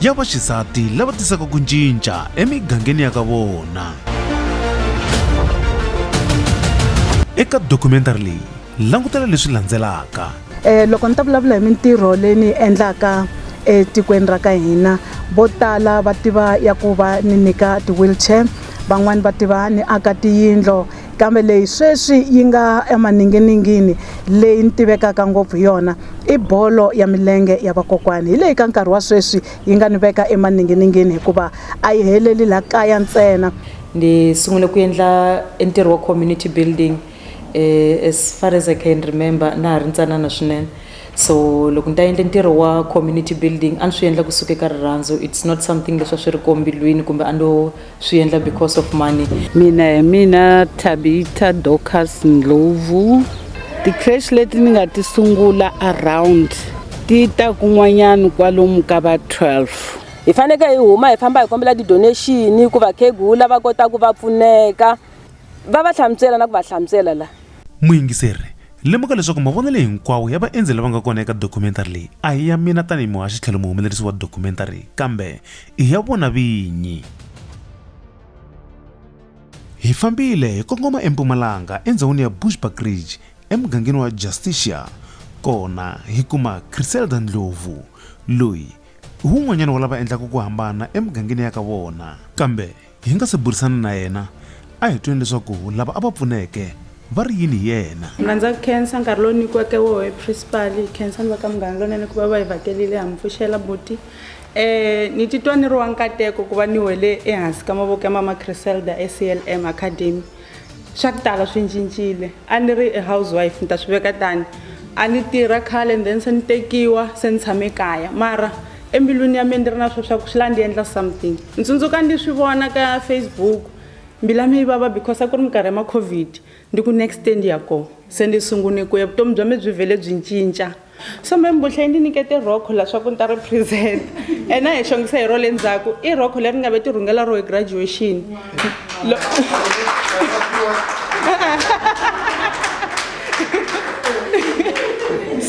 ya vaxisati lava tisaka ku cinca emigangeni ya ka vona eka dokumentari leyi langutela leswi landzelaka um loko ni ta vulavula hi mintirho leyi ni yi endlaka etikweni ra ka hina vo tala va tiva ya ku va ni nyika ti-wheelchair van'wani va tiva ni aka tiyindlo Kambe leyi sweswi yi nga emaninginingini leyi ni tivekaka ngopfu hi yona i bolo ya milenge ya vakokwani. Hi leyi ka nkarhi wa sweswi yi nga ni veka emaninginingini hikuva a yi heleli laha kaya ntsena. Ni sungule ku endla e ntirho wa community building as far as I can remember na ha ri ntsanana swinene. So loko ni ta endla ntirho wa community building a ni swi endla kusuka eka rirhandzu it's not something leswi a swi ri kombilwini kumbe a no. swi endla because of money mina hi mina tabita docas ndlovu ti-crash leti ni nga ti sungula around ti ta kun'wanyana kwalomu ka va 12 hi faneke hi huma hi famba hi kombela ti-donation ku vakhegula va kota ku va pfuneka va va hlamusela na ku va hlamusela la muyingiseri lemuka leswaku mavonelo hinkwawo ya vaendzi lava nga kona eka documentary leyi a hi ya mina tanihi muhaxi tlhelo muhumelerisi wa documentary kambe i ya vona vinyi. Hi fambile hi kongoma empumalanga endzhawini ya Bushbuck Ridge emugangeni wa Justicia kona hi kuma Criselda Ndlovu loyi i wun'wanyana wa lava endlaka ku hambana emugangeni ya ka vona kambe Hi nga se burisana na yena, a hi twile leswaku lava a va pfuneke va ri yini hi yena. Mina ndza ku khensa nkarhi lowu nyikiweke woho hi principal, hi khensa ni va ka Munghana Lonene ku va va hi vhakelile ha mi pfuxela buti. Um ni titwa ni ri wa nkateko ku va ni wele ehansi ka mavoko ya mama Criselda eCLM Academy swa ku tala swi cincile a ni ri house wife ni ta swi veka tani a ni tirha khale and then se ni tekiwa se ni tshame kaya mara embilwini ya mina ni ri na swo swa ku swi la ndi endla something ni tsundzuka ndi swi vona ka facebook mbila mi yi vava because a ku ri minkarhi ya ma-covid ndi ku next year ndi ya kona se ndi sungune ku ya vutomi bya mi byi vhele byi cinca so me mbuhla yi ni nyikete rhokho la swaku ni ta ri present and a hi xongisa hi ro le ndzhaku i rhokho leri nga ve ti rhungela ro hi graduation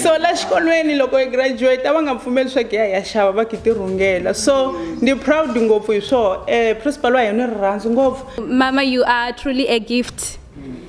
so la xikolweni loko hi graduate a va nga pfumeli swa ku ya ya xava va ki ti rhungela so ndi proud ngopfu hi swona um eh, principal wa hina ni rirhandzu ngopfu mama you are truly a gift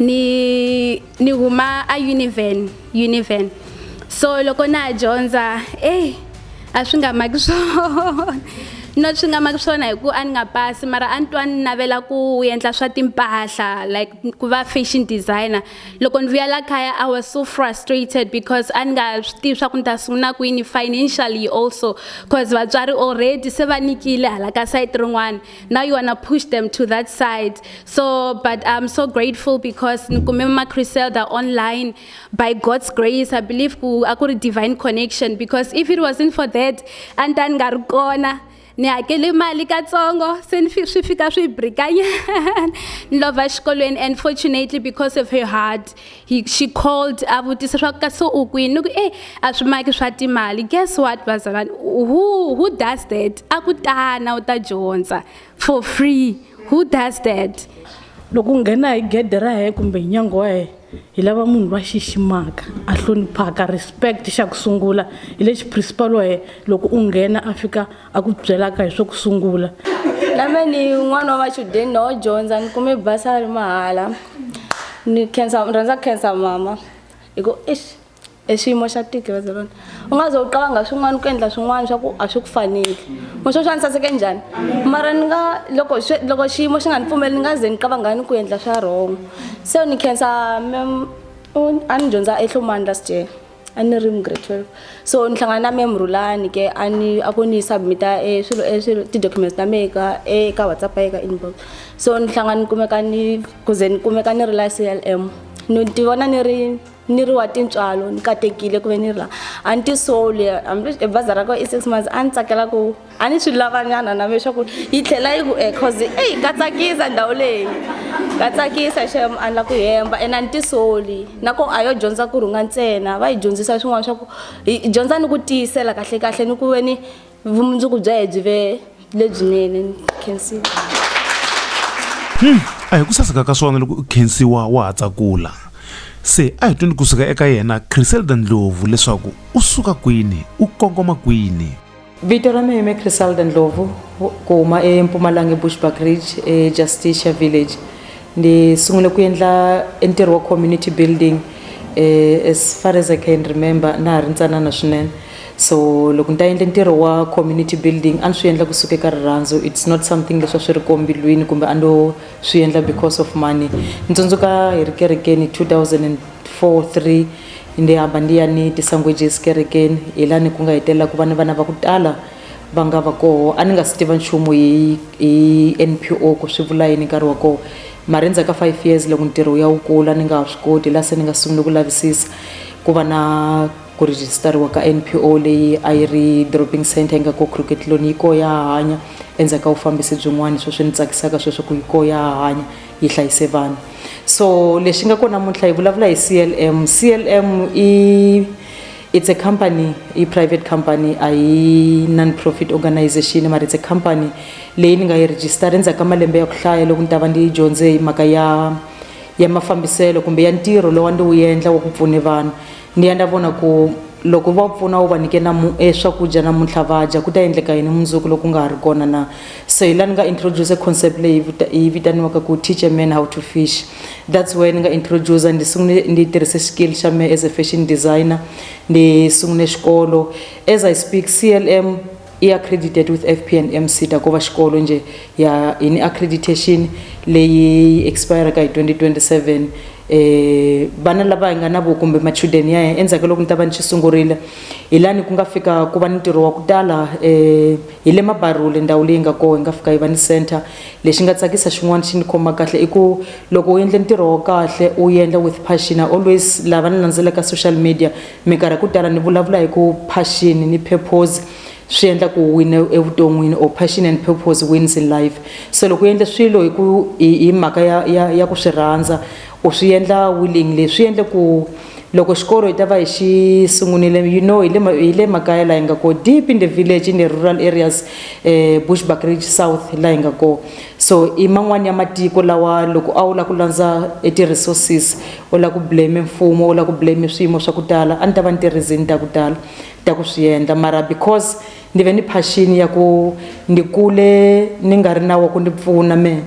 ni ni huma a univen univen so loko na ha dyondza eyi a swi nga maki swona no swi nga maki swona hi ku a ni nga pasi mara a ni twa ni navela ku endla swa timpahla like ku va fashion designer loko ni vuya la kaya i was so frustrated because a ni nga swi tivi swa ku ni ta sungula kwini financially also cause vatswari already se va nikile hala ka sayiti rin'wana now you want to push them to that side so but i'm so grateful because nkumema criselda online by god's grace i believe ku a ku ri divine connection because if it wasn't for that a ni ta ni nga ri kona ni hakele mali katsongo se ni swi fika swi brikanyana ni lova xikolweni and fortunately because of her heart He, she called a vutisa swa ka so u kwini ni ku e a swi maki swa timali guess what vazalwana who who does that a ku tana u ta dyondza for free who does that loko u nghena hi gede ra hee kumbe hi nyango wa hee hi lava munhu loyi a xiximaka a hloniphaka respect xa ku sungula hi lexi principal wa hee loko u nghena a fika a ku byelaka hi swa ku sungula na me ni n'wana wa machudeni na wo dyondza ni kume basari mahala ni khensa ni rhandza khensa mama hi ku eish e xiyimo xa tiki ra zerona u nga ze u qavanga swin'wana ku endla swin'wana swa ku a swi ku faneli muxo swa ni saseke njhani mara ni nga loko loko xiyimo xi nga ni pfumeli ni nga ze ni qavanga ni ku endla swa wrong se ni khensa a ni dyondza ehlomani last year a ni ri mu grade twelve so ni hlangana na mem rhulani ke a ni a ku ni submit-a e swilo e swilo ti-documents ta mehe ka eka whatsapp ya ka inbox so ni hlangana ni kumeka ni ku ze ni kumeka ni ri la C_L_M ni ti vona ni ri ni ri wa tintswalo ni katekile ku ve ni ri la a ni ti soli hambi e bazi ra ko i six months a ni tsakela ku a ni swi lavanyana na me swa ku yi tlhela yi ku e cause eyi ka tsakisa ndhawu leyi ka tsakisa xem a ni la ku hemba ene a ni tisoli nako a yo dyondza ku rhunga ntsena va yi dyondzisa swin'wana swa ku hi dyondza ni ku tiyisela kahle kahle ni ku ve ni vumundzuku bya hi byi ve lebyinene ni khensiwa hmm, a hi ku saseka ka swona loko u khensiwa wa ha tsakula se a hi twini kusuka eka yena chriselda ndlovu leswaku u suka kwini u kongoma kwini Vito ra mina i Crisalda Ndlovu ku huma eMpumalanga eBushbuck Ridge eJusticia Village ni sungule ku endla ntirho wa community building eh, as far as I can remember na ha ri ntsanana swinene so loko ni ta endla ntirho wa community building a ni swi endla kusuka eka rirhandzu it's not something leswi a swi ri kombilwini kumbe a no swi endla because of money ni tsundzuka hi ri kerekeni 2000 four three ni hamba ni ya ni ti-sangwejes kerekeni hi lani ku nga hetelela ku va ni vana va ku tala va nga va koho a ni nga si tiva nchumu hi hi N_P_O ku swi vula yini nkarhi wa koho mara endzhaku ka five years loko ntirho wu ya wu kula ni nga ha swi koti hi la se ni nga sungule ku lavisisa ku va na ku rejistariwa ka N_P_O leyi a yi ri dropping centre yi nga ko Khiriketi yi koho ya ha hanya endzhaku ka vufambisi byin'wani swo swi ni tsakisaka sweswo ku yi koho ya ha hanya. yi hlayise vanhu so lexi nga kona namuntlha hi vulavula hi clm clm i it's a company i private company a yi non-profit organization mara it's a company leyi ni nga yi register endzhaku ka malembe ya ku hlaya loko ni ta va ndi yi dyondze hi mhaka ya ya mafambiselo kumbe ya ntirho lowa ndi wu endla wa ku pfune vanhu Ni endla vona ku loko va pfuna u va nyike na e swakudya namuntlha va dya ku ta endleka yini mundzuku loko nga ha ri kona na so hi laha ni nga introduce concept leyi yi vitaniwaka ku teach a man how to fish that's why ni nga introduce ni sungule ni yi tirhise skill xa me as a fashion designer ni sungule xikolo as I speak C_L_M. i accredited with fp and mcta ko va xikolo njhe ya hi ni accreditation leyi yi expireka hi 2027 um eh, vana lava hi nga na vo kumbe machudeni ya hina endzhaku ka loko ni ta va ni xi sungurile hi lani ku nga fika ku va ni ntirho wa ku tala um hi le mabarule ndhawu leyi nga koho hi nga fika hi va ni center lexi nga tsakisa xin'wana xi ni khoma kahle i ku loko u endle ntirho wa kahle u endla with passion always lava ni landzelaka social media Minkarhi ku tala ni vulavula hi ku passion ni purpose swi endla ku u wina evuton'wini or passion and purpose wins in life. Se loko u endle swilo hi ku hi hi mhaka ya ya ya ku swi rhandza u swi endla willingly swi endle ku loko xikolo hi ta va hi xi sungunile you know hi le hi le makaya laha hi nga kona deep in the village in the rural areas Bushbuckridge South laha hi nga kona. So i man'wana ya matiko lawa loko a wu la ku landza e ti resources u la ku blame mfumo u la ku blame swiyimo swa ku tala a ni ta va ni ti reason ta ku tala ta ku swi endla mara because ni ve ni passion ya ku ni kule ni nga ri na wa ku ni pfuna mehe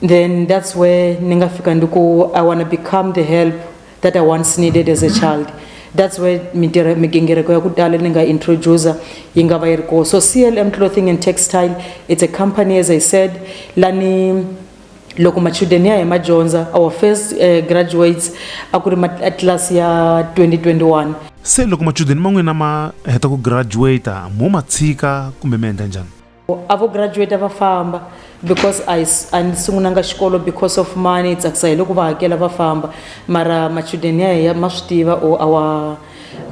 then that's where ni nga fika ni ku I wanna become the help that I once needed as a child that's where mitirho migingiriko ya ku tala ni nga introducer yi nga va yi ri kona so clm clothing and textile it's a company as i said lani loko machudeni ya hi ma dyondza our first uh, graduates a ku ri matlilasi ya 2021 se loko machudeni man'wina ma heta ku graduata mo ma tshika kumbe mi endla njhani a vo graduate va famba because a a ni sungunanga xikolo because of money tsakisa hi loko va hakela va famba mara machudeni ya ya ma swi tiva or our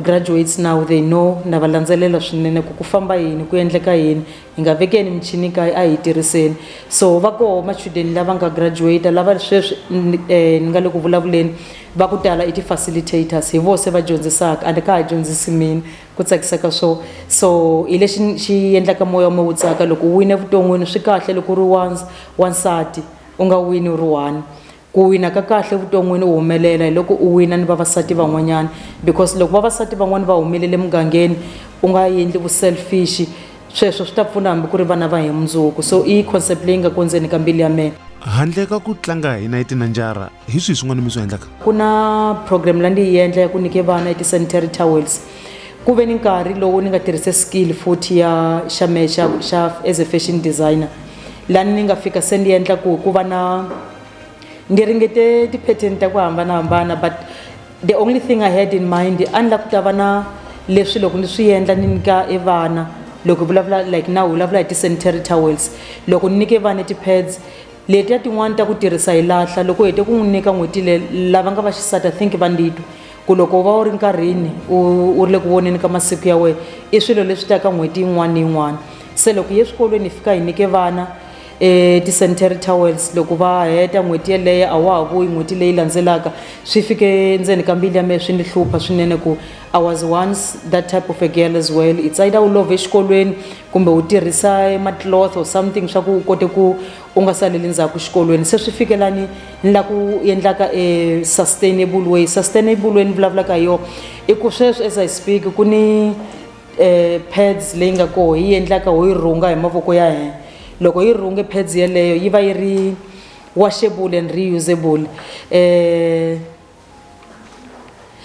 graduates now they know na va landzelela swinene ku ku famba yini ku endleka yini hi nga vekeni michini kaya a hi tirhiseni so va koho machudeni lava nga graduate lava sweswi ni eh, nga le ku vulavuleni va ku tala i ti-facilitators hi vo se va dyondzisaka a ni ka ha dyondzisi mina ku tsakisaka swo so hi lexi xi endlaka moya mo wu tsaka loko u wine evuton'wini swi kahle loko u ri wa wansati u nga wini u ri one ku wina ka kahle evuton'wini u humelela hi loko u wina ni vavasati van'wanyana because loko vavasati van'wani va humelele emugangeni u nga endli vu selfish. Sweswo swi ta pfuna hambi ku ri vana va hi mundzuku. So i concept leyi nga kondzeni ka mbilu ya mina. Handle ka ku tlanga hi nayiti na njara, hi swihi swin'wana mi swi endlaka? Ku na program la ndi yi endla ya ku nyike vana ti-sanitary towels. Ku ve ni nkarhi lowu ni nga tirhise skill futhi ya xa mehe xa xa as a fashion designer la ni nga fika se ni endla ku ku va na ni ringete ti-pattern ta ku hambanahambana but. The only thing I had in mind a ni la ku ta va na leswi loko ni swi endla ni nyika e vana loko hi vulavula like na vulavula hi ti-sanitary towels loko ni nyike vana ti-pads letiya tin'wani ta ku tirhisa hi lahla loko u hete ku n'wi nyika n'hweti le lava nga va xisati i think va ndi twa ku loko u va u ri nkarhini u u ri le ku voneni ka masiku ya wena i swilo leswi taka n'hweti yin'wana ni yin'wana se loko hi ye swikolweni hi fika hi nyike vana eti-sanitary towels loko va heta n'hweti yeleyo a wa ha vuyi n'hweti leyi landzelaka swi fike ndzeni ka mbilu ya mehe swi ni hlupha swinene ku i was once that type of a girl as well it's either u love exikolweni kumbe u tirhisa ma-cloth or something swa ku u kote ku u nga saleli ndzhaku xikolweni se swi fike lani ni la ku endlaka e sustainable way sustainable way ni vulavulaka hi yona i ku sweswi as i speak ku ni eh, pads leyi nga koho yi endlaka ho yi rhunga hi mavoko ya hina loko yi rhunge pads yeleyo yi va yi ri washable and reusable eh,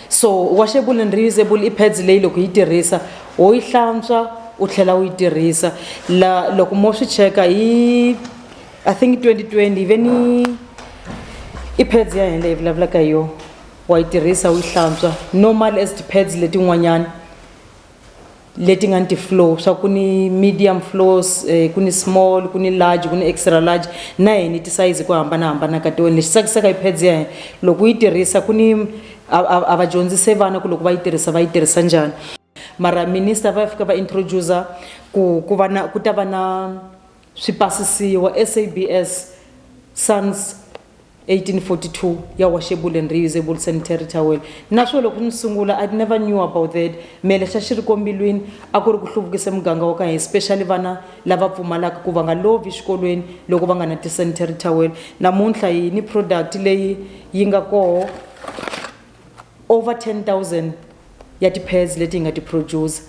so washable and reusable i pads leyi loko yi tirhisa wo yi hlantswa u tlhela u yi tirhisa la loko mo swi cheka hi i think 2020 ve ni i pads ya hina leyi vulavulaka hi yona wa yi tirhisa u yi hlantswa normal as ti-pads letin'wanyana leti nga ni ti-floor swa ku ni medium floors ku ni small ku ni large ku ni extra large na yona ni tisayizi hi ku hambanahambana ka tona lexi tsakisaka hi pads ya hina loko u yi tirhisa ku ni a a a va dyondzise vana ku loko va yi tirhisa va yi tirhisa njhani mara minister va fika va introduce-a ku ku va na ku ta va na Swi basisiwa, SABS, Sans. 1842 ya washable and reusable sanitary towel. Naswo loko ni sungula I never knew about that. Me lexi a xi ri kombilwini a ku ri ku hluvukisa muganga wa ka hina especially vana lava pfumalaka ku va nga lovi xikolweni loko va nga na ti-sanitary towel. Namuntlha hi ni product leyi yi nga koho over 10,000 ya ti-pads leti hi nga ti-producer.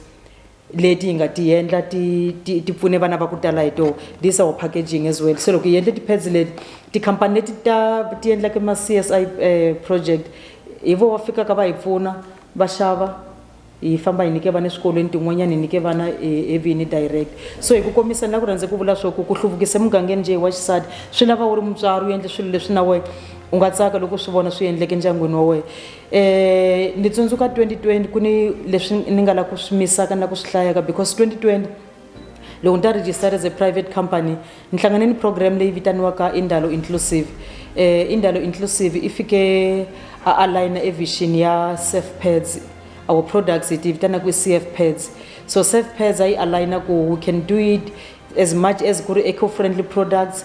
leti hi nga ti yendla ti ti ti pfune vana va ku tala hi toho this our packaging as well se loko hi yendle ti-pads leti tikhampani leti ta ti yendlaka ma-c s i eh, project hi vo va fikaka va hi pfuna va xava hi famba hi nyike vana eswikolweni tin'wanyana hi nyike vana hi- hi vini direct so hi ku kombisa ni la ku rhandze ku vula swo ku ku hluvukisa emugangeni njhe hi wa xisati swi lava u ri mutswari u endle swilo leswi na wena u nga tsaka loko u swi vona swi endleke endyangwini wa wena Eh, ni tsundzuka 2020 ku ni leswi ni nga la ku swi misaka na ku swi hlayaka because 2020 loko ni ta register as a private company ni hlangane ni program leyi vitaniwaka indalo inclusive eh, indalo inclusive i fike a aligna evision ya surf pads our products hi ti vitana ku i cf pads so surf pads a yi aligna ku we can do it as much as ku ri eco friendly products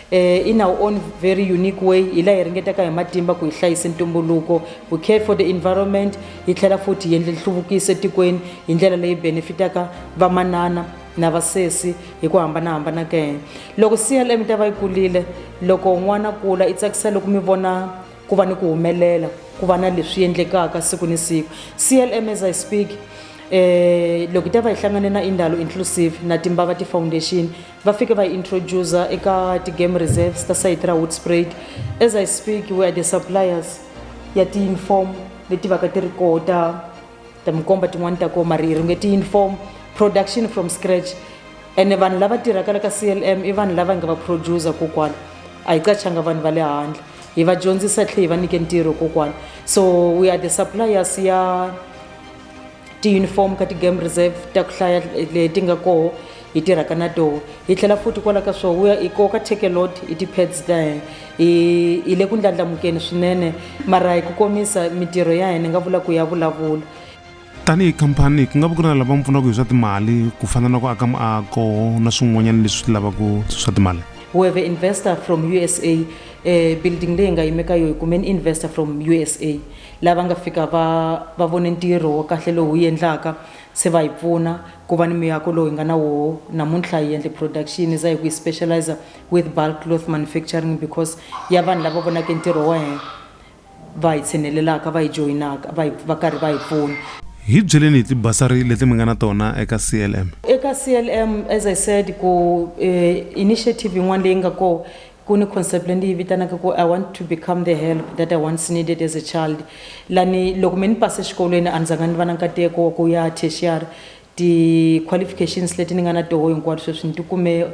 Uh, in our own very unique way hi laha hi ringetaka hi matimba ku hi hlayisa ntumbuluko we care for the environment hi tlhela futhi hi endle nhluvukiso etikweni hi ndlela leyi benefitaka vamanana na vasesi hi ku hambanahambana ka yena loko clm ta va yi kulile loko n'wana kula i tsakisa loko mi vona ku va ni ku humelela ku va na leswi endlekaka siku ni siku clm as i speak um loko hi ta va hi hlangane na indalo inclusive na timbava ti-foundation Va fike va yi introducer eka ti-game reserves ta sayiti ra Hoedspruit. As I speak, we are the suppliers ya ti-uniform leti vaka ti ri koho ta ta mi komba tin'wani ta koho mara hi ringe ti-uniform production from scratch ene vanhu lava tirhaka la ka CLM i vanhu lava hi nga va producer kokwana a hi qachanga vanhu va le handle hi va dyondzisa tlhe hi va nyike ntirho kokwana so we are the suppliers ya tiyunifomu ka ti-game reserve ta ku hlaya leti nga koho hi tirhaka na toho hi tlhela futhi kwala ka swo wuya hi koka takelot hi ti-pads ta hina hi hi le ku ndlandlamukeni swinene mara hi ku komisa mitirho ya hina nga vula ku ya vulavula tanihi khampani ku nga va ku ri na lava mi pfunaka hi swa timali ku fana na ku aka muako na swin'wanyana leswi swi lavaka swa timali we have investor from usa um building leyi nga yimeka yo hi kumeni investor from usa Lava nga fika va va vone ntirho wa kahle lowu hi wu endlaka se va hi pfuna ku va ni muyako lowu hi nga na woho namuntlha. Hi endle production za hi ku hi specializa with bulk cloth manufacturing because ya vanhu lava vonake ntirho wa hina va hi tshinelelaka, va hi joyinaka, va hi va karhi va hi pfuna. Hi byeleni hi tibasari leti mi nga na tona eka CLM. Eka CLM as I said ku initiative yin'wana leyi nga kona Ku ni concept leyi ni yi vitanaka ku I want to become the help that I once needed as a child. La ni loko me ni pase xikolweni a ni zanga ni va na nkateko wa ku ya tertiary. Ti qualifications leti ni nga na toho hinkwato sweswi ni ti kume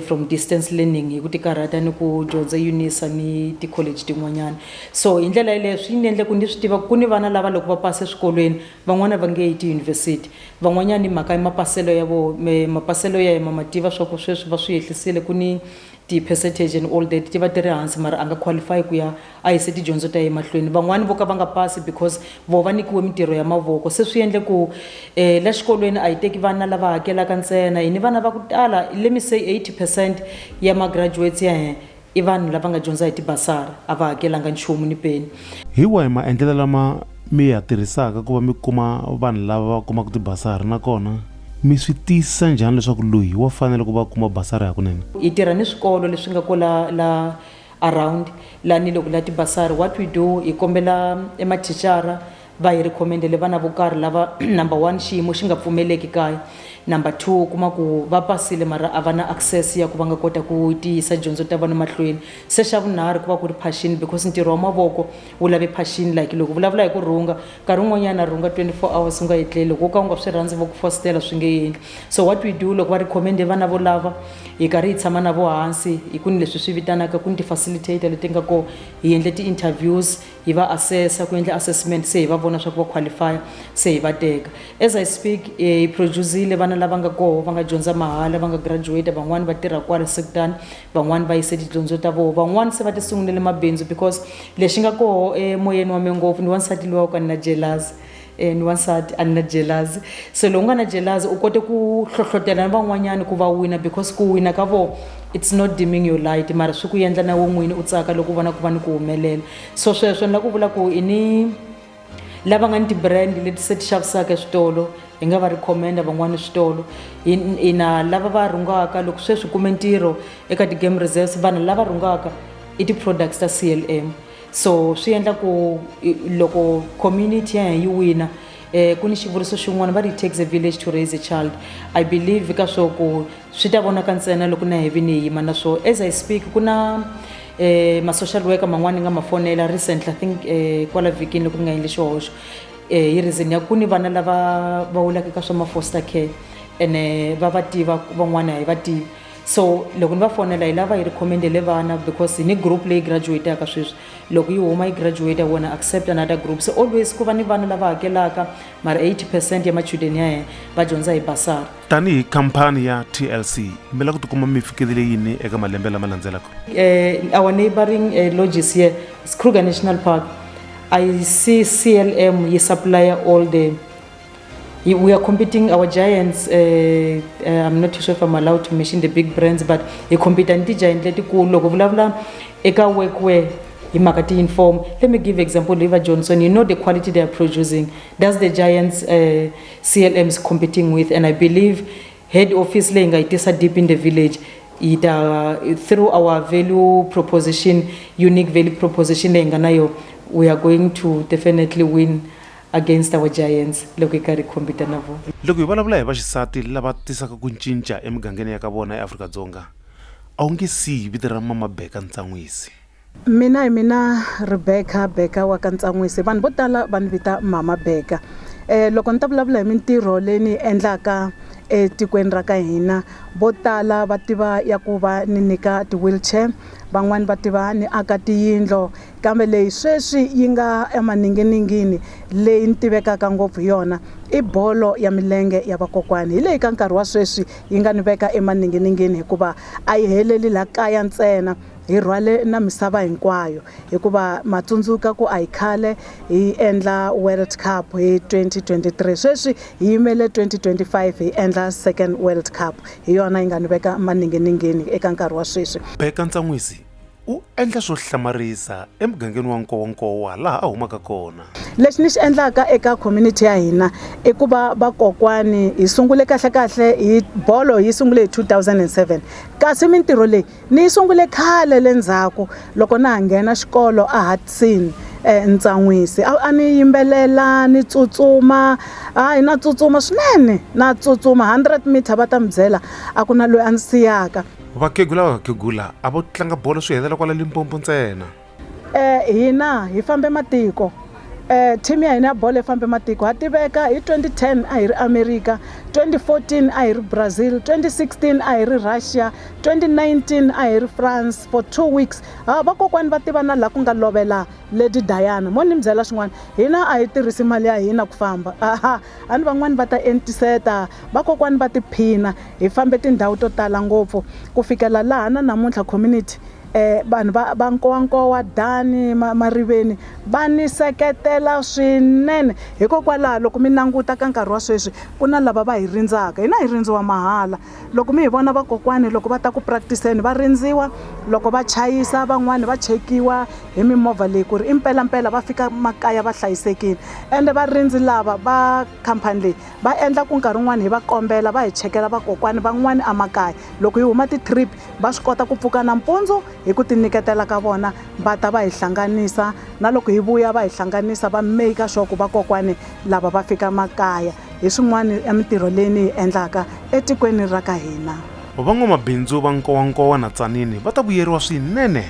from distance learning hi ku ti karhata ni ku dyondza UNISA ni ti college tin'wanyana. So hi ndlela yaleyo swi ni endle ku ni swi tiva ku ku ni vana lava loko va pase swikolweni van'wana va nge yi ti university. Van'wanyana hi mhaka ya mapaselo ya voho mapaselo ya hina ma ma tiva swa ku sweswi va swi yehlisile ku ni Ti percentage and all that ti va ti ri hansi mara a nga qualify ku ya a yise tidyondzo ta ye mahlweni. Van'wani vo ka va nga pasi because voho va nikiwe mintirho ya mavoko. Se swi endle ku eh la xikolweni a hi teki vana lava hakelaka ntsena hi ni vana va ku tala let me say 80 percent ya ma graduates ya hina i vanhu lava nga dyondza hi ti basari a va hakelanga nchumu ni peni. Hi wahi maendlelo lama mi ya tirhisaka ku va mi kuma vanhu lava va kumaka ti basari nakona Mi swi tiyisisa njhani leswaku loyi wa fanela ku va a kuma basari hakunene? Hi tirha ni swikolo leswi nga ko la la around la ni loko la tibasari. What we do, hi kombela e mathicara va hi recommend-ele vana vo karhi lava number one xiyimo xi nga pfumeleki kaya, number two u kuma ku va pasile mara a va na access ya ku va nga kota ku ti yisa dyondzo ta vona mahlweni, se xa vunharhu ku va ku ri passion because ntirho wa mavoko wu lave phashini like loko vulavula hi ku rhunga nkarhi wun'wanyana rhunga 24 hours u nga etleli loko u ka u nga swi rhandzi vo ku fositela swi nge endli so what we do loko va recommende vana vo lava hi karhi hi tshama na vo hansi hi ku ni leswi swi vitanaka ku ni ti-facilitator leti nga kona hi endle ti-interviews hi va assessa ku endla assessment se hi va vona swa ku va qualifya se hi va teka as i speak eh, hi producile vana lava nga koho va nga dyondza mahala va nga graduate van'wani va tirha kwala sekutani van'wani va yise tidyondzo ta voho van'wani se va ti sungulele mabindzu because lexi nga koho emoyeni wa me ngopfu ni wansati luwa ku a ni na jelazi um ni wansati a ni na jelazi se lowu nga na jelazi u kote ku hlohlotela ni van'wanyani ku va wina because ku wina ka voho it's not dimming your light mara swi ku endla na we n'wini u tsaka loko u vona ku va ni ku humelela so sweswo ni la ku vula ku i ni lava nga ni ti-brand leti se ti xavisaka eswitolo hi nga va recommenda van'wana switolo ina lava va rhungaka loko sweswi kume ntirho eka ti-game reserves vanhu lava rhungaka i ti-products ta c l m so swi endla ku loko community ya hina yi wina um ku ni xivuriso xin'wana va ri takes a village to raise a child i believe ka swo ku swi ta vonaka ntsena loko na hevini hi yima na swo as i speak ku na eh, ma-social worker man'wana ni nga ma fonela recently i think eh, kwala vhikini loko ni nga endli xihoxo eh, hi reason ya ku ni vana lava va wulaka ka swa ma-foster care ene va va tiva van'wana hi va tivi so loko ni va fonela hi lava hi recommendele vana because hi ni group leyi graduataka sweswi loko yi huma yi graduate wona accept another group so always ku va ni vana lava hakelaka mara 80 percent ya machudeni ya hena va dyondza hi basari tanihi khampani ya tlc mi lava ku tikuma mi fikelele yini eka malembe lama landzelaka eh, our neighboring eh, lodges here is kruger national park i see clm yi supplier all the we are competing our giants uh, uh, i'm not sure if i'm allowed to mention the big brands but hi compete ni ti-giant letikulu loko vulavula eka workwear hi mhaka ti-inform let me give example liva johnson you know the quality they are producing does the giants uh, CLM is competing with and I believe head office leyi nga yi tisa deep in the village yi ta through our value proposition unique value proposition leyi nga na yo we are going to definitely win against our giants loko hi karhi hi compete na vona loko hi vulavula hi vaxisati lava tisaka ku cinca emigangeni ya ka vona eafrika-dzonga a wu nge siyi vito ra mama beka ntsan'wisi Mina hi mina Rebecca Beka wa ka Ntsan'wisi vanhu vo tala va ni vita mhama Beka eh, loko ni ta vulavula hi mintirho leyi ni yi endlaka etikweni ra ka hina vo tala va tiva ya ku va ni nyika ti-wheelchair van'wani va tiva ni aka tiyindlo kambe leyi sweswi yi nga emaninginingini leyi ni tivekaka ngopfu hi yona i bolo ya milenge ya vakokwani hi leyi ka nkarhi wa sweswi yi nga ni veka emaninginingini hikuva a yi heleli la kaya ntsena Hi rhwale na misava hinkwayo hikuva ma tsundzuka ku a hi khale hi endla World Cup hi 2023 sweswi hi yimele 2025 hi endla second World Cup hi yona yi nga ni veka maninginingini eka nkarhi wa sweswi. Bheka ntsan'wisi u endla swo hlamarisa emugangeni wa Nkowankowa laha a humaka kona. Lexi ni xi endlaka eka community ya hina i ku va vakokwani hi sungule kahlekahle hi bolo yi sungule hi 2007 kasi mintirho leyi Ni yi sungule khale le ndzhaku loko na ha nghena xikolo eHudson entsan'wisi a a ni yimbelela ni tsutsuma hayi na tsutsuma swinene na tsutsuma 100 meter va ta mi byela a ku na loyi a ndzi siyaka Vakhegula Vakhegula a vo tlanga bolo swi helela kwala Limpopo ntsena. Eh, hina hi fambe matiko eh, team ya hina ya bolo yi fambe matiko ha tiveka hi 2010 a hi ri america 2014 a hi ri brazil 2016 a hi ri russia 2019 a hi ri france for two weeks ha ah, vakokwani va tiva na laha ku nga lovela lady diana mo ni mi byela swin'wana hina a hi tirhisi mali ya hina ku famba aha a ni van'wani va ta entiseta vakokwani va tiphina hi fambe tindhawu to tala ngopfu ku fikela laha na namuntlha community eh, vanhu va, va nkowankowa dani ma, mariveni va ni seketela swinene hikokwalaho loko mi languta ka nkarhi wa sweswi ku na lava va hi rindzaka hina hi rindziwa mahala loko mi hi vona vakokwani loko va ta ku practiceni va rindziwa loko va chayisa van'wani va chekiwa hi mimovha leyi ku ri i mpelampela va fika makaya va hlayisekile ende varindzi lava va khampani leyi va endla ku nkarhi wun'wani hi va kombela va hi chekela vakokwani van'wani emakaya loko hi huma ti-trip va swi kota ku pfuka nampundzu hi ku tinyiketela ka vona va ta va hi hlanganisa na loko hi vuya va hi hlanganisa va make sure ku vakokwani lava va fika makaya hi swin'wana ya mintirho leyi ni yi endlaka etikweni ra ka hina van'wamabindzu va nkowankowa na tsanini va ta vuyeriwa swinene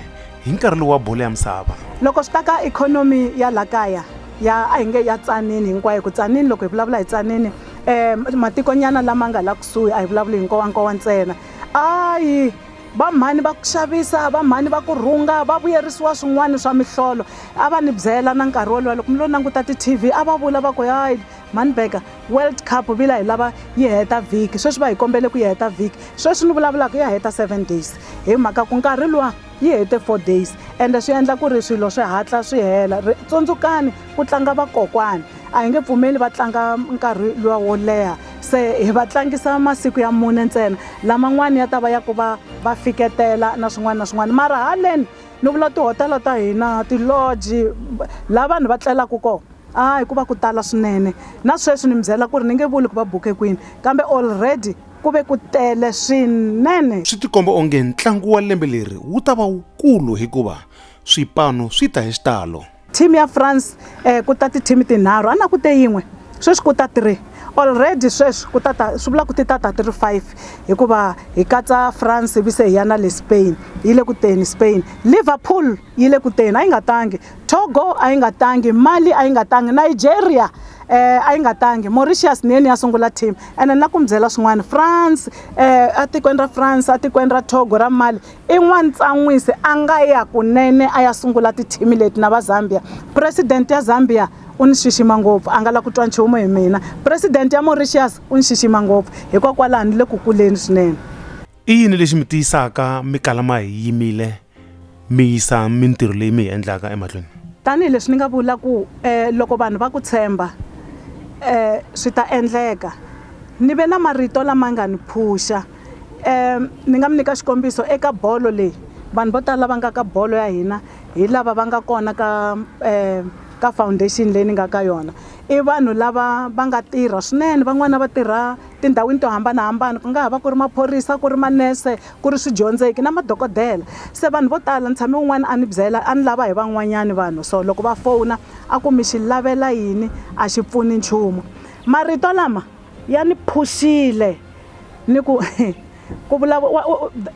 hi nkarhi lowu wa bolo ya misava loko swi ta ka ikhonomi ya la kaya ya a hi nge ya tsanini hinkwayo ku tsanini loko hi vulavula hi tsanini um matikonyana lama nga la kusuhi a hi vulavuli hi nkowankowa ntsena Ayi, va mhani va ku xavisa, va mhani va ku rhunga, va vuyerisiwa swin'wana swa mihlolo. A va ni byela na nkarhi wolowo loko mi lo languta ti-TV a va vula va ku hayi mhani Burger World Cup vila hi lava yi heta vhiki sweswi va hi kombele ku yi heta vhiki sweswi ni vulavulaka ya heta seven days hi mhaka ku nkarhi luwa yi hete four days ende swi endla ku ri swilo swi hatla swi hela tsundzukani ku tlanga vakokwani a hi nge pfumeli va tlanga nkarhi luwa wo leha se hi va tlangisa masiku ya mune ntsena laman'wana ya ta va ya ku va va fiketela na swin'wana na swin'wana mara haleni ni vula tihotela ta hina tiloji laha vanhu va tlelaka kona a hi ku va ku tala swinene na sweswi ni mi byela ku ri ni nge vuli ku va buke kwini kambe already ku ve ku tele swinene swi tikomba onge ntlangu wa lembe leri wu ta va wukulu hikuva swipano swi ta hi xitalo team ya france um ku ta ti-team tinharhu a na ku te yin'we sweswi ku ta three already sweswi ku tata swi vula ku ti tata ti ri five hikuva hi katsa france ivi se hi ya na le spain yi le ku teni spain liverpool yi le ku teni a yi nga tangi togo a yi nga tangi mali a yi nga tangi nigeria eh a yi nga tangi mauritius ni yeni ya sungula team ene na ku mi byela swin'wana france eh atikweni ra france atikweni ra togo ra mali I n'wantsan'wisi a nga ya kunene a ya sungula tithimi leti na va Zambia. Presidente ya Zambia u ni xixima ngopfu, a nga la ku twa nchumu hi mina. Presidente ya Mauritius u ni xixima ngopfu, hikokwalaho ni le ku kuleni swinene. I yini lexi mi tiyisaka mi kala ma hi yimile mi yisa mintirho leyi mi yi endlaka emahlweni? Tanihi leswi ni nga vula ku um loko vanhu va ku tshemba um swi ta endleka, ni ve na marito lama nga ni phuxa. ni nga mi nyika xikombiso eka bolo leyi vanhu vo tala lava nga ka bolo ya hina hi lava va nga kona ka um ka foundation leyi ni nga ka yona i vanhu lava va nga tirha swinene van'wana va tirha tindhawini to hambanahambana ku nga ha va ku ri maphorisa ku ri manese ku ri swidyondzeki na madokodela se vanhu vo tala ni tshame un'wana a ni byela a ni lava hi van'wanyana vanhu so loko va fona a ku mi xi lavela yini a xi pfuni nchumu marito lama ya ni phuxile ni ku ku vulavula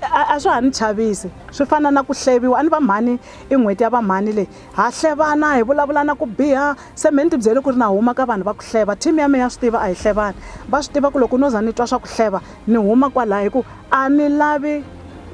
a swa ha ni chavisi swi fana na ku hleviwa a ni vamhani i n'hweti ya vamhani leyi ha hlevana hi vulavula na ku biha se me ni tibyele ku ri na huma ka vanhu va ku hleva team ya me ya swi tiva a hi hlevani va swi tiva ku loko no za ni twa swa ku hleva ni huma kwalaho hi ku a ni lavi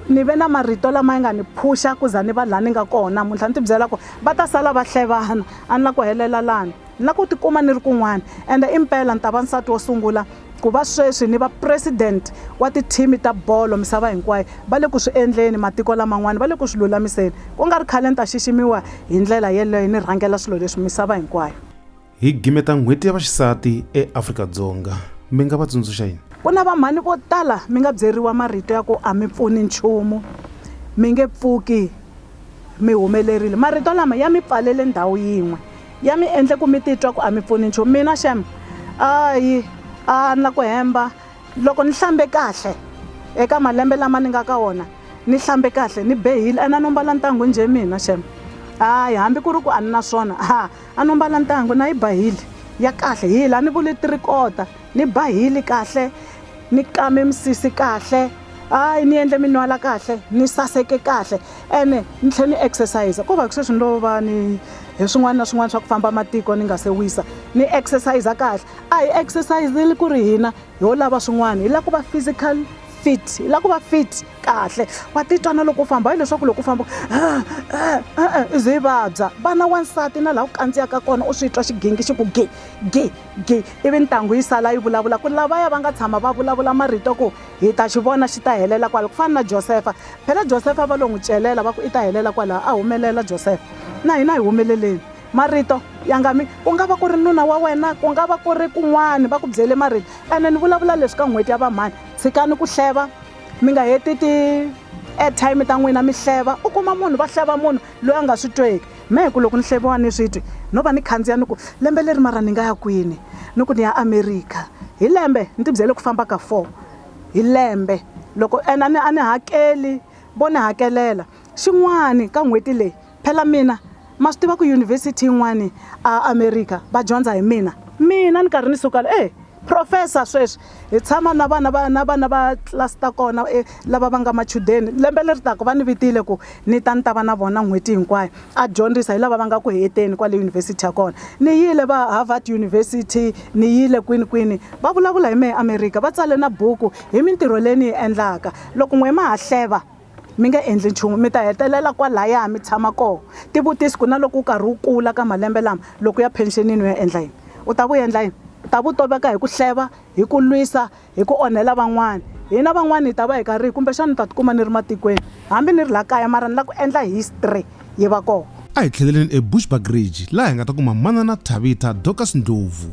ni ve na marito lama ya nga ni phuxa ku za ni va laha ni nga kona muntlha ni tibyela ku va ta sala va hlevana a ni la ku helela lani na ku tikuma ni ri kun'wana, ende impela ni ta va nsati wo sungula ku va sweswi ni va president wa tithimi ta bolo misava hinkwayo. Va le ku swi endleni, matiko laman'wana va le ku swi lulamiseni. Ku nga ri khale ni ta xiximiwa hi ndlela yeleyo ni rhangela swilo leswi misava hinkwayo. Hi gimeta N'hweti ya Vaxisati eAfrika-Dzonga, mi nga va tsundzuxa yini? Ku na vamhani vo tala mi nga byeriwa marito ya ku a mi pfuni nchumu, mi nge pfuki mi humelerile. Marito lama ya mi pfalele ndhawu yin'we ya mi endle ku mi titwa ku a mi pfuni nchumu mina xem ayi a ni la ku hemba loko ni hlambe kahle eka malembe lama ni nga ka wona ni hlambe kahle ni behile a na no mbala ntangu njhe mina xem hayi hambi ku ri ku a ni na swona ha a no mbala ntangu na yi bahile ya kahle hi la ni vule tirikota ni bahile kahle ni kame misisi kahle hayi ni endle minwala kahle ni saseke kahle ene ni tlhela ni exercise ko va ku sweswi ni lo va ni hi swin'wana na swin'wana swa ku famba matiko ni nga se wisa ni exercise kahle a hi exercise-eli ku ri hina ho lava swin'wana hi lava ku va physical fit hi lava ku va fit kahle wa titwa na loko u famba hayi leswaku loko u famba i ze i vabya vana wansati na laha ku kandziyaka kona u swi twa xigingi xi ku gi gi. gi ivi ntangu yi sala yi vulavula ku lavaya va nga tshama va vulavula marito ku hi ta xi vona xi ta helela kwala ku fana na josefa phela josefa va lo n'wi celela va ku i ta helela kwalaho a humelela josefa na hina hi humeleleni marito ya nga mi ku nga va ku ri nuna wa wena ku nga va ku ri kun'wana va ku byele marito ene ni vulavula leswi ka n'hweti ya vamhani tshikani ku hleva mi nga heti ti-airtime ta n'wina mi hleva u kuma munhu va hleva munhu loyi a nga swi tweki Me ku loko ni hleviwa ni swi twi no va ni khandziya ni ku lembe leri mara ni nga ya kwini ni ku ni ya America hi lembe ni tibyele ku famba ka four hi lembe loko and a ni a ni hakeli vo ni hakelela xin'wani ka n'hweti leyi phela mina ma swi tiva ku yunivhesiti yin'wani a America va dyondza hi mina mina ni karhi ni suka e professor sweswi hi tshama na vana va na vana va tlilasi ta kona e lava va nga machudeni lembe leri taka va ni vitile ku ni ta ni ta va na vona n'hweti hinkwayo a dyondzisa hi lava va nga ku heteni kwale yunivhesiti ya kona ni yile va harvard university ni yile kwini kwini va vulavula hi mehe amerika va tsale na buku hi mintirho leyi ni yi endlaka loko n'we ma ha hleva mi nga endli nchumu mi ta hetelela kwalaya mi tshama kona tivutisi ku na loko u karhi u kula ka malembe lama loko ya phenxenini u ya endla yini u ta ku endla yini u ta vutoveka hi ku hleva hi ku lwisa hi ku onhela van'wana hina van'wana hi ta va hi karhi kumbexana ni ta tikuma ni ri matikweni hambi ni ri laha kaya mara ni lava ku endla history yi va kona a hi tlheleleni ebushbuckridge laha hi nga ta kuma manana thabitha dorcas ndlovu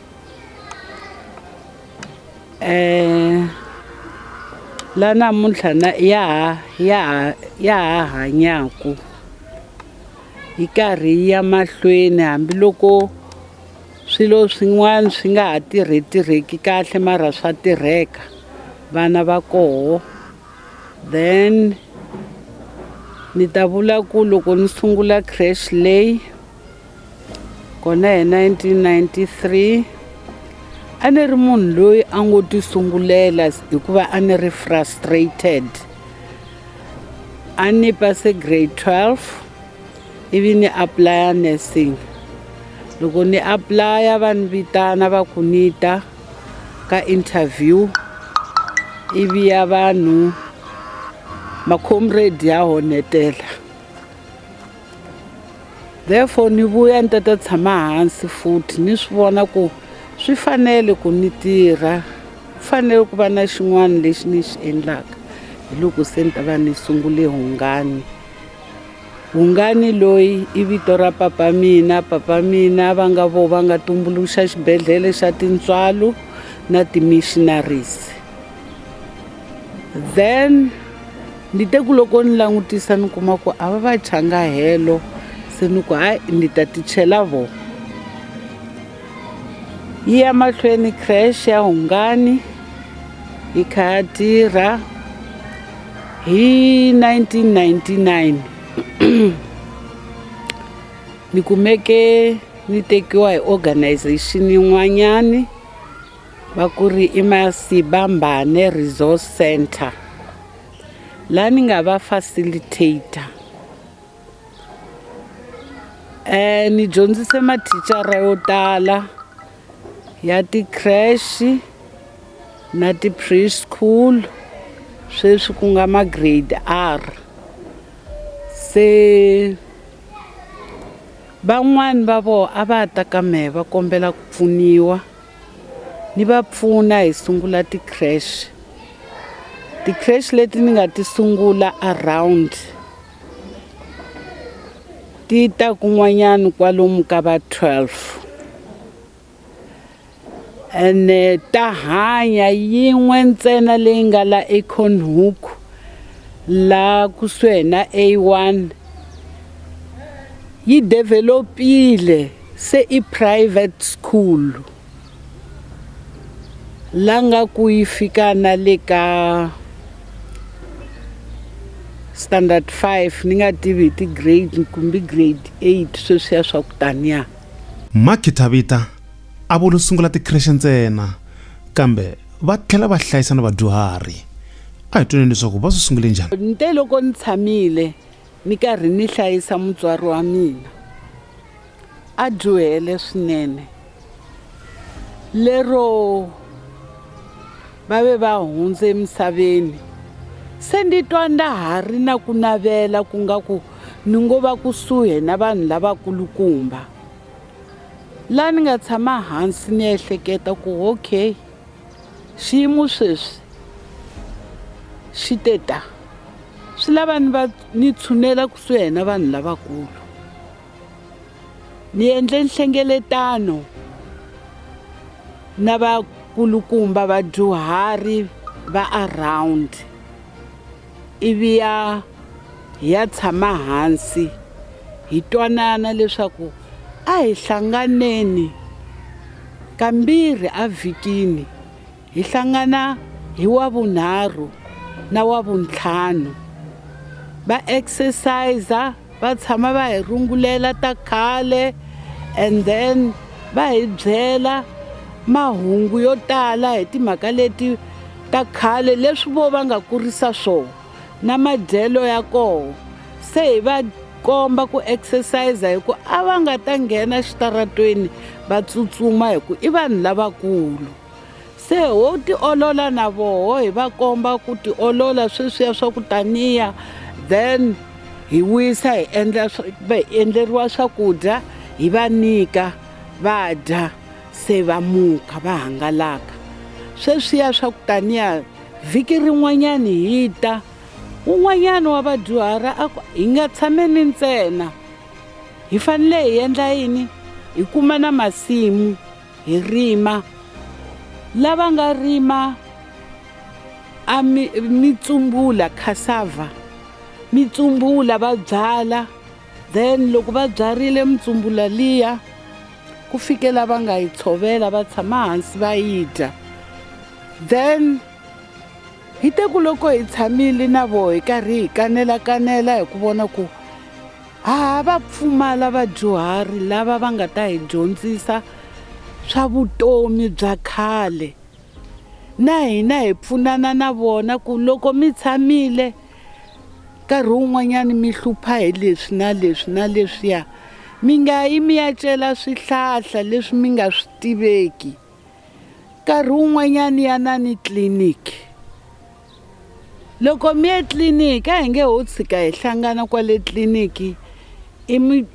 um la namuntlha na ya ha ya ha ya ha hanyaku yi karhi yi ya mahlweni hambiloko swilo swin'wana swi nga ha tirhe tirheki kahle mara swa tirheka vana va koho then ni ta vula ku loko ni sungula crash lay Kona hi 1993 a ni ri munhu loyi a ngo ti sungulela hikuva a ni ri frustrated a ni pase grade 12 ivi ni aplaya nursing loko ni aplaya va ni vitana va ku ni ta ka interview ivi ya vanhu macomrade ya honetela therefore ni vuya ni ta ta tshama hansi futhi ni swi vona ku swi fanele ku ni tirha ku fanele ku va na xin'wana lexi ni xi endlaka hi loko se ni ta va ni sungule hungani hungani loyi i vito ra papa mina papa mina va nga vo va nga tumbuluxa xibedhlele xa tintswalo na ti-missionaries then ni te ku loko ni langutisa ni kuma ku a va va changa helo se ni ku hayi ni ta ti chela vo yi ya mahlweni crash ya hungani yi kha ya tirha hi 1999 ni kumeke ni tekiwa hi organization yin'wanyani va ku ri i Masibambane Resource Center la ni nga va facilitator eh ni dyondzise mathicara yo tala ya ti-crash na ti-preschool sweswi ku nga ma-grade R se van'wani va vona a va ta ka mehe va kombela ku pfuniwa Ni va pfuna hi sungula ti-crash. Ti-crash leti ni nga ti sungula around ti ta kun'wanyana kwalomu ka va 12 ene ta hanya yin'we ntsena leyi nga la econhook la kusuhi na a1 yi developile Se i private school la nga ku yi fika na le ka standard 5 ni nga tivi hi ti-grade kumbe grade 8 sweswiya swa ku taniya Ma Khitabita a vo lo sungula tikhirexe ntsena kambe va tlhela va hlayisa na vadyuhari. A hi tweni leswaku va swi sungule njhani. Ni te loko ni tshamile Ni karhi ni hlayisa mutswari wa mina a dyohele swinene, lero va ve va hundze emisaveni. Se ndi twa nda ha ri na ku navela ku nga ku ni ngo va kusuhi na vanhu lavakulukumba, laha ni nga tshama hansi ni ehleketa ku okay, Xiyimo sweswi xi te ta. Swi lava ni va ni tshunela kusuhi na vanhu lavakulu. Ni endle nhlengeletano na vakulukumba vadyuhari va around. ivi ya hi ya tshama hansi hi twanana leswaku a hi hlanganeni kambirhi evhikini hi hlangana hi wa vunharhu na wa vuntlhanu va exercise va tshama va hi rungulela ta khale and then va hi byela mahungu yo tala hi timhaka leti ta khale leswi vo va nga kurisa swona na madyelo ya kona se hi va komba ku exercise hi ku a va nga ta nghena exitaratweni va tsutsuma hi ku i vanhu lavakulu Se ho tiolola na voho hi va komba ku tiolola sweswiya swa ku taniya then hi wisa hi endla endleriwa swakudya hi va nyika va dya se va muka va hangalaka sweswiya swa ku taniya vhiki rin'wanyana hi ta un'wanyana wa vadyuhari a ku hi nga tshameni ntsena hi fanele hi endla yini hi kuma na masimu Hi rima. Lava nga rima a mi, mitsumbula cassava mitsumbula va byala then loko va byarile mitsumbula liya ku fikela va nga yi tshovela va tshama hansi va yi dya then hi te ku loko hi tshamile na voho hi karhi hi kanela kanela hi ku vona ku Ha va pfumala vadyuhari lava va nga ta hi dyondzisa swa vutomi bya khale na hina hi pfunana na vona ku loko mi tshamile nkarhi wun'wanyana mi hlupha hi leswi na leswi na leswiya mi nga yi mi ya cela swihlahla leswi mi nga swi tiveki nkarhi wun'wanyani yanani tliliniki loko mi ye tliliniki a hi nge ho tshika hi hlangana kwale tliliniki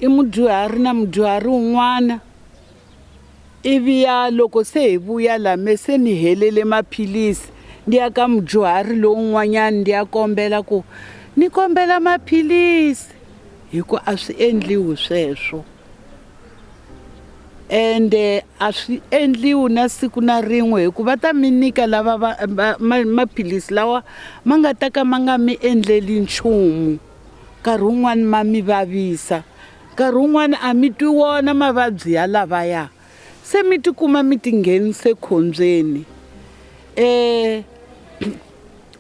i mudyuhari na mudyuhari wun'wana ivi ya loko se hi vuya la me se ni helele maphilisi ndi ya ka mudyuhari lowun'wanyani ndi ya kombela ku ni kombela maphilisi hi ku a swi endliwi sweswo ende a swi endliwi na siku na rin'we hikuva va ta mi nyika lava va, va, ma, maphilisi lawa ma nga ta ka ma nga mi endleli nchumu nkarhi wun'wani ma mi vavisa nkarhi wun'wani a mi twi wona mavabyi ya lavaya se mi tikuma mi tinghenise khombyeni um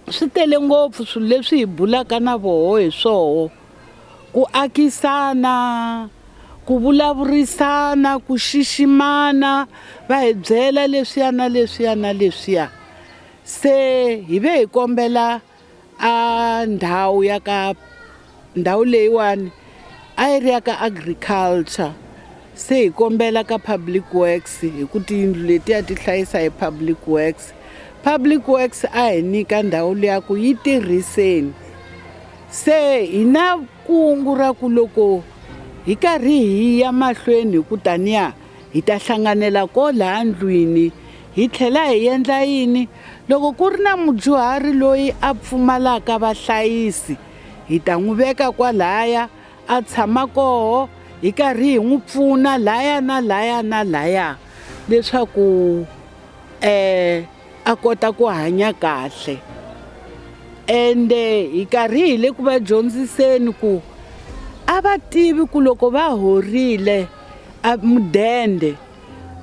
swi tele ngopfu swilo leswi hi bulaka na voho hi swoho ku akisana ku vulavurisana ku xiximana va hi byela leswiya na leswiya na leswiya se hi ve hi kombela a ndhawu ya ka ndhawu leyiwani a yi ri ya ka agriculture se hi kombela ka public works hi ku tiyindlu letiya ti hlayisa hi public works public works a hi nyika ndhawu liya ku yi tirhiseni Se hi na kungu ra ku loko hi karhi hi ya mahlweni hi ku taniya hi ta hlanganela ko laha ndlwini hi tlhela hi endla yini loko ku ri na mudyuhari loyi a pfumalaka vahlayisi hi ta n'wi veka kwalaya a tshama koho hi karhi hi n'wi pfuna laya na laya na laya leswaku um a kota ku hanya kahle ende hi karhi hi le ku va dyondziseni ku a va tivi ku loko va horile mudende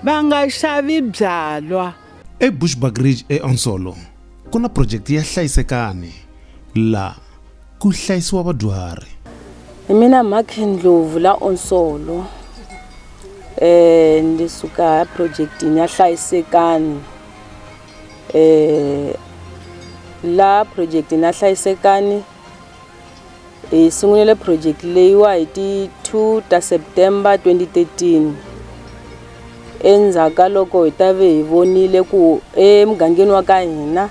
va nga xavi byalwa ebushbuckridge eonsolo ku na projekti ya hlayisekani laha ku hlayisiwa vadyuhari hi mina mhakhe ndlovu la onsolo um eh, ndi suka eprojectini ya hlayisekani um la projektini ya hlayisekani hi sungulele project leyiwa hi ti 2 ta september 2013 endzhaku ka loko hi ta ve hi vonile ku emugangeni wa ka hina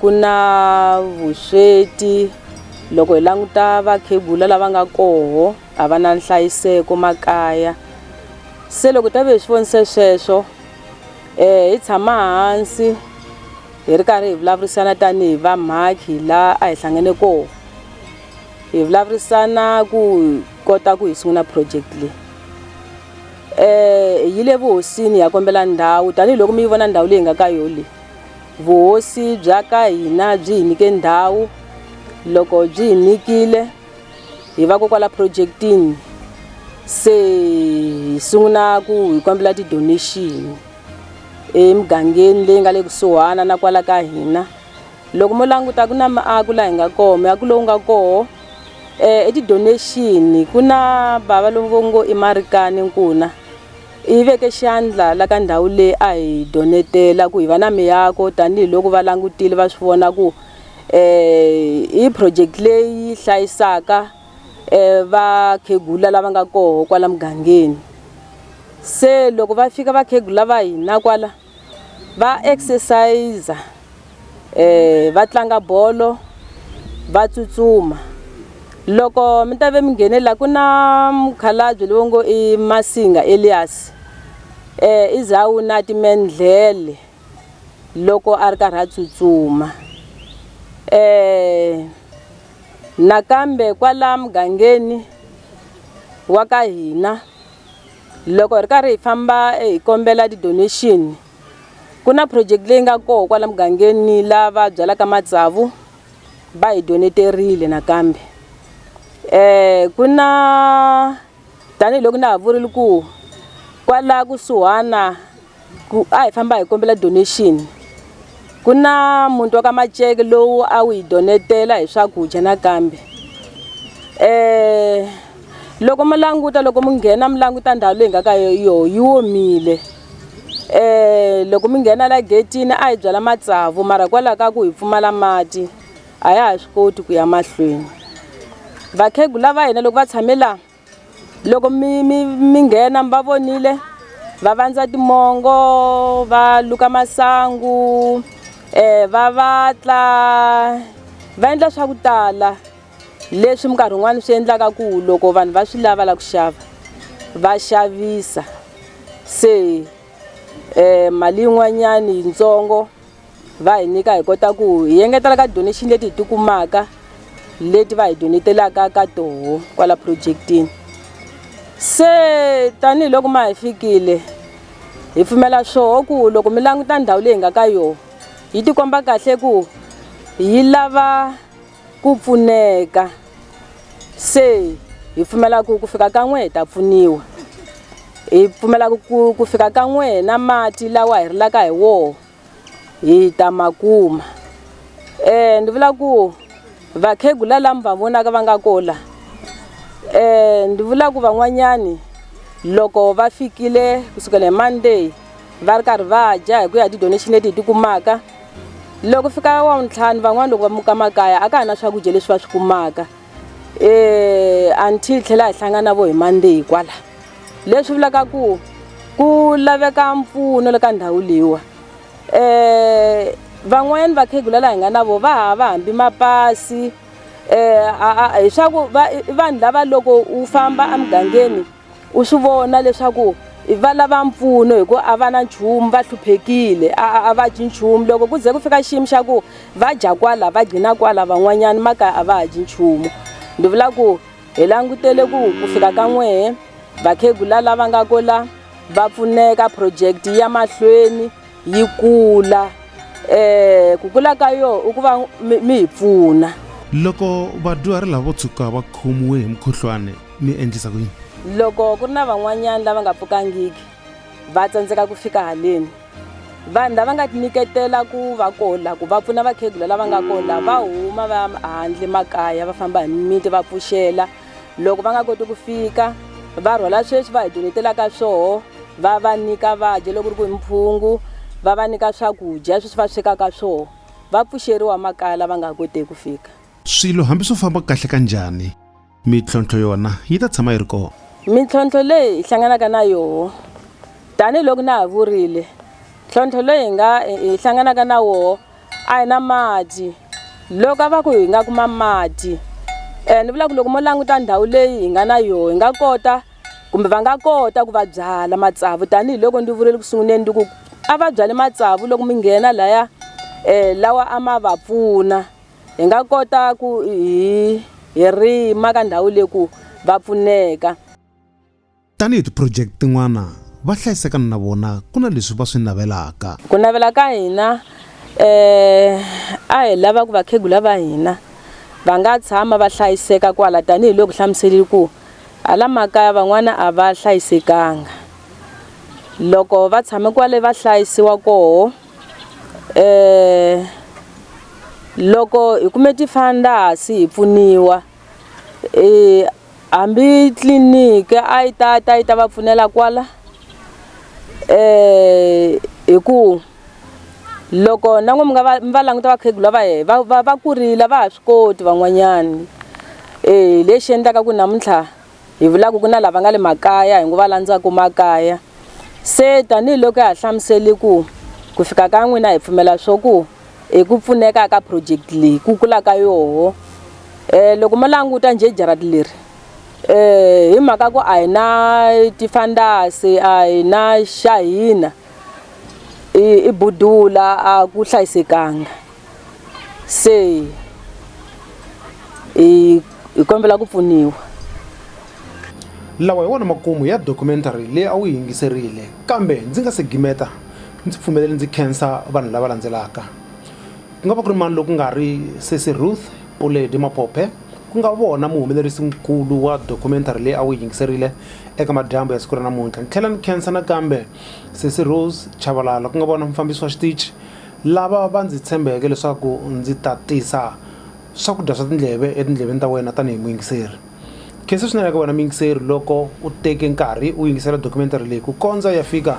ku na vusweti loko hi languta vakhegula lava nga koho a va na nhlayiseko makaya se loko hi ta ve hi swi vonise sweswo hi tshama hansi hi ri karhi hi vulavurisana tanihi vamhakhi la a hi hlangane koho hi vulavurisana ku kota ku hi sungula project leyi hi yile vuhosini hi ya kombela ndhawu tanihiloko mi yi vona ndhawu leyi nga ka yo le. Vuhosi bya ka hina byi hi nyike ndhawu loko byi hi nyikile hi va ko kwala projektini se hi sungula ku hi kombela ti-donation emugangeni leyi nga le kusuhana na kwala ka hina loko mo languta ku na miako laha hi nga kona miako lowu nga koho i ti-donation ku na bava lovo ngo i Marikani nkuna. Hi veke xandla la ka ndhawu leyi a hi donetela ku hi va na miako tanihi loko va langutile va swi vona ku hi project leyi hlayisaka vakhegula lava nga koho kwala mugangeni se loko va fika vakhegula va hina kwala. va exercise eh va tlanga bolo va tsutsuma loko mi ta ve mi nghene la ku na mukhalabye lowu ngo i masinga elias eh i za wu na timendlele loko a ri karhi a tsutsuma eh nakambe kwala mugangeni wa ka hina loko hi ri karhi hi famba hi kombela ti-donation ku na project leyi nga kona kwala mugangeni lava byalaka matsavu va hi doneterile nakambe ku na tanihiloko na ha vurile ku kwala kusuhana ku a hi famba hi kombela donation ku na muti wa ka maceke lowu a wu hi donetela hi swakudya nakambe um loko mi languta loko mi nghena mi languta ndhawu leyi nga ka yoho yi womile um loko mi nghena la getini a hi byala matsavu mara hikwalaho ka ku hi pfumala mati a ya ha swi koti ku ya mahlweni vakhegula va hina loko va tshame laha loko mi mi mi nghena mi va vonile va vandza timongo va luka masangu um va vatla va endla swa ku tala leswi minkarhi yin'wani swi endlaka ku loko vanhu va swi lava lava ku xava va xavisa se mali yin'wanyani yitsongo. va hi nyika hi kota ku hi engetela ka donation leti hi tikumaka leti va hi donetelaka ka toho kwala projektini se tanihiloko ma hi fikile hi pfumela swoho ku loko mi languta ndhawu leyi hi nga ka yona yi tikomba kahle ku yi lava ku pfuneka se hi pfumela ku ku fika ka n'we hi ta pfuniwa hi pfumelaka ku ku fika ka n'we na mati lawa hi rilaka hi wona hi ta ma kuma ni vula ku vakhegula lava mi va vonaka va nga koho la ni vula ku van'wanyani loko va fikile kusukela hi Monday va ri karhi va dya hi ku ya ti-donation leti hi ti kumaka loko fika wavuntlhanu van'wani loko va muka makaya a ka ha na swakudya leswi va swi kumaka. eh anti hi tlhela hi hlangana na vo hi Monday kwala leswi vulaka ku ku laveka mpfuno le ka ndhawu leyiwa eh van'wanyana vakhegula laha hi nga na vo va ha va hambi mapasi eh hi swa ku vanhu lava loko u famba emugangeni u swi vona leswaku va lava mpfuno hi ku a va na nchumu va hluphekile a a va dyi nchumu loko ku ze ku fika xiyimo xa ku va dya kwala va gcina kwala van'wanyana makaya a va ha dyi nchumu ndzi vula ku hi langutele ku ku fika ka n'wehe vakhegula lava nga ko la va pfuneka project ya mahlweni yi kula um ku kula ka yona i ku va mi hi pfuna loko vadyuhari lavo tshuka va khomiwe hi mukhuhlwana mi endlisa ku yini loko ku ri na van'wanyana lava nga pfukangiki va tsandzeka ku fika haleni vanhu lava nga tinyiketela ku va kola ku va pfuna vakhegula lava nga kola va huma va handle makaya va famba hi mimiti va pfuxela loko va nga koti ku fika va rhwala sweswi va hi donetelaka swoho va va nyika va dya loko ri ku hi mphungu va va nyika swakudya sweswi va swekaka swoho va pfuxeriwa makaya lava nga koteki ku fika swilo hambi swo famba kahle ka njhani mitlhontlho yona yi ta tshama yi ri kona mintlhontlho leyi hi hlanganaka na yoho tanihiloko na ha vurile ntlhontlho loyi hi nga hi hlanganaka na woho a hi na mati loko a va ku hi nga kuma mati um ni vula ku loko mo languta ndhawu leyi hi nga na yoho hi nga kota kumbe va nga kota ku va byala matsavu tanihiloko ndzi vurile ku sunguleni ndi ku a va byale matsavu loko mi nghena laya um lawa a ma va pfuna hi nga kota ku hi hi rima ka ndhawu leyi ku va pfuneka tanihi tiproject tin'wana va hlayiseka na vona ku na leswi va swi navelaka ku navela ka hina eh a hi lava ku vakhegula va hina va nga tshama va hlayiseka kwala tanihiloko hlamuselile ku hala makaya van'wana a va hlayisekanga loko va tshame kwale va hlayisiwa koho eh loko hi kume tifandas hi pfuniwa eh hambi tliliniki a yi ta ta yi ta va pfunela kwala eh hi ku loko na n'wi mi nga va mi va languta vakhegula va yena va va va kurile va ha swi koti van'wanyani hi lexi endlaka ku namuntlha. hi vulaku ku na lava nga le makaya hi ngo va landzaku makaya se tanihiloko ya ha hlamuseli ku ku fika ka n'wina hi pfumela swo ku hi ku pfuneka ka project leyi ku kula ka yoho um eh, loko mo languta njhe jarati leri um eh, hi mhaka ku a hi na tifandasi a hi na xa hina i budula a ku hlayisekanga se hi hi kombela ku pfuniwa lawa hi wona makumu ya documentary leyi a wu yi yingiserile kambe ndzi nga se gimeta ndzi pfumelele ndzi khensa vanhu lava landzelaka ku nga va ku ri mani loku nga ri sesi ruth puledi maphophe ku nga vona muhumelerisi nkulu wa documentary leyi a wu yi yingiserile eka madyambu ya siku ra namuntlha ni tlhela ni khensa nakambe sesi rose chavalala ku nga vona mufambisi wa xitichi Lava va ndzi tshembeke leswaku ndzi ta tisa swakudya swa tindleve etindleveni ta wena tanihi muyingiseri. Khensa swinene eka wena muyingiseri loko u teke nkarhi u yingisela dokumentari leyi ku kondza u ya fika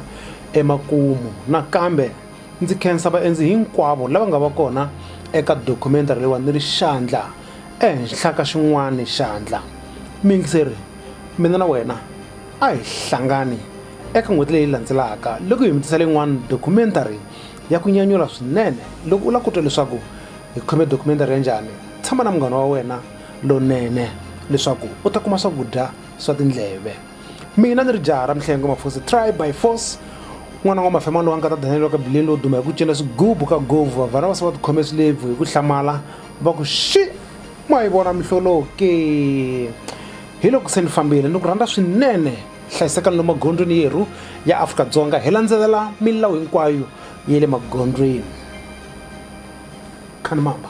emakumu. Nakambe ndzi khensa vaendzi hinkwavo lava nga va kona eka dokumentari leyiwani ni ri xandla ehenhla ka xin'wana xandla. Muyingiseri, mina na wena a hi hlangani eka n'hweti leyi landzelaka loko hi mi tisela yin'wana dokumentari ya ku nyanyula swinene loko u lava ku twa leswaku hi khome documentary ya njhani tshama na munghana wa wena lonene leswaku u ta kuma swakudya swa tindleve mina ni ri jaha ra mihlengo mafosi try by force n'wana wa mafema lowa nga ta danele wa ka bileni lowo duma hi ku cina swigubu ka govu vavhana va se va tikhome swilebvu hi ku hlamala va ku xi ma yi vona mihloloke hi loko se ni fambile ni ku rhandza swinene hlayisekani lomu magondzweni yerhu ya afrika-dzonga hi landzelela milawu hinkwayo ya le magondzweni khanimamba